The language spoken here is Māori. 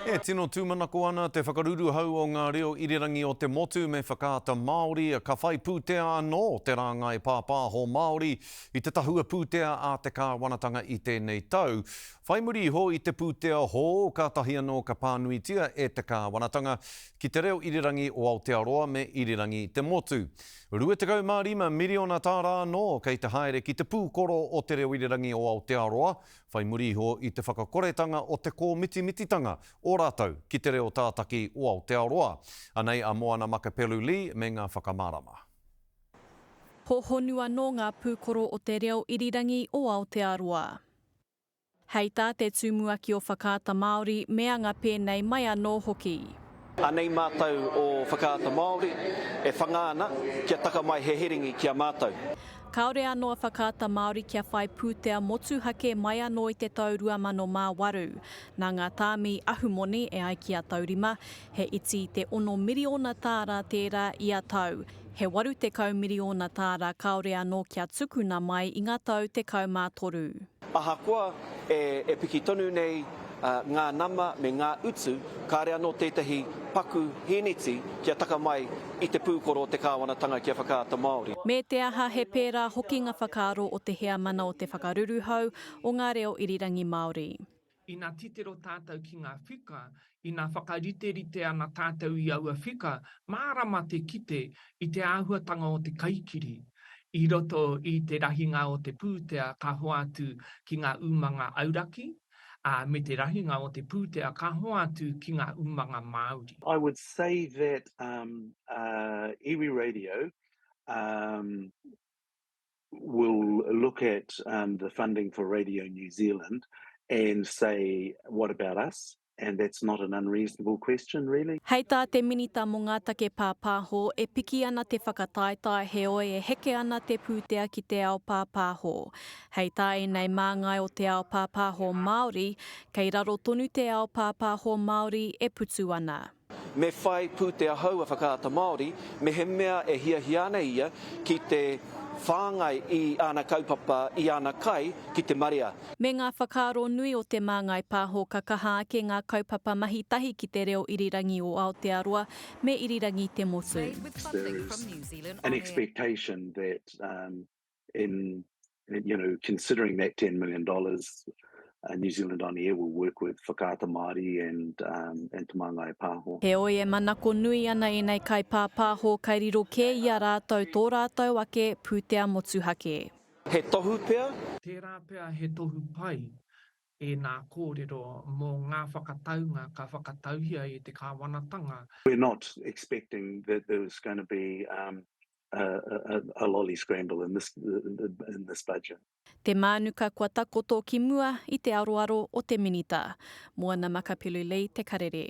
E tino tūmanako ana te whakaruruhau o ngā reo irirangi o te motu me Whakaata Māori, ka whai pūtea anō te rāngai pāpāho Māori i te tahua pūtea a te kāwanatanga i tēnei tau. Whai muri iho i te pūtea hou, kātahi anō ka pānuitia e te kāwanatanga ki te reo irirangi o Aotearoa me irirangi te motu. 25 miriona tāra anō kei te haere ki te pūkoro o te reo irirangi o Aotearoa, whai muri iho i te whakakoretanga o te kōmitimititanga o rātou ki te reo tātaki o Aotearoa. Anei a Moana Makapelu-Lee me ngā whakamārama. He honu anō ngā pūkoro o te reo irirangi o Aotearoa. Hei tā te tumuaki o Whakaata Māori me anga pēnei mai anō hoki. Anei mātou o Whakaata Māori e whanga ana kia taka mai he herengi ki a mātou. Kāore anō a Whakaata Māori kia whai pūtea motuhake mai anō i te tau 2008. Nā ngā tāmi ahumoni e ai ki a Taurima, he iti i te ono miriona tāra tērā ia tau. He 80 miriona tāra kāore anō kia tukuna mai i ngā tau 13. Ahakoa e piki tonu nei ngā nama me ngā utu, kāore anō tētahi paku hīniti kia taka mai i te pūkoro o te kāwanatanga kia whakaata Māori. Me te aha, he pērā hoki ngā whakaaro o te Heamana o te Whakaruruhau o ngā Reo Irirangi Māori. Ina titiro tātou ki ngā whika, ina whakariterite ana tātou i aua whika, mārama te kite i te āhuatanga o te kaikiri i roto i te rahinga o te pūtea ka hoatu ki ngā umanga auraki, ā, me te rahinga o te pūtea ka hoatu ki ngā umanga Māori. I would say that iwi radio will look at um, the funding for Radio New Zealand and say, what about us? And that's not an unreasonable question, really. Hei tā te Minita mō ngā Take Pāpāho, e piki ana te whakataetae heoi e heke ana te pūtea ki te ao pāpāho. Hei tā ēnei māngai o te ao pāpāho Māori, kei raro tonu te ao pāpāho Māori e putu ana. Me whai pūtea hou a Whakaata Māori mehemea e hiahia ana ia ki te whāngai i ana kaupapa, i ana kai ki te marea. Me ngā whakaaro nui o Te Māngai Pāho ka kaha ake ngā kaupapa mahi tahi ki te reo irirangi o Aotearoa me irirangi te motu. Made with funding from New Zealand On Air. in, you know, considering that ten million dollars, uh, New Zealand On Air will work with Whakaata Māori and, um, and Te Māngai Pāho. Heoi, e manako nui ana ēnei kaipāpāho kai riro kē i a rātou tō rātou ake pūtea motuhake. He tohu pea? Tērā pea he tohu pai ēnā kōrero mō ngā whakataunga ka whakatauhia e te Kāwanatanga. We're not expecting that there was going to be um, a lolly scramble in this in this budget. Te Mānuka kua takoto ki mua i te aroaro o te Minita. Moana Makapilulei te karere.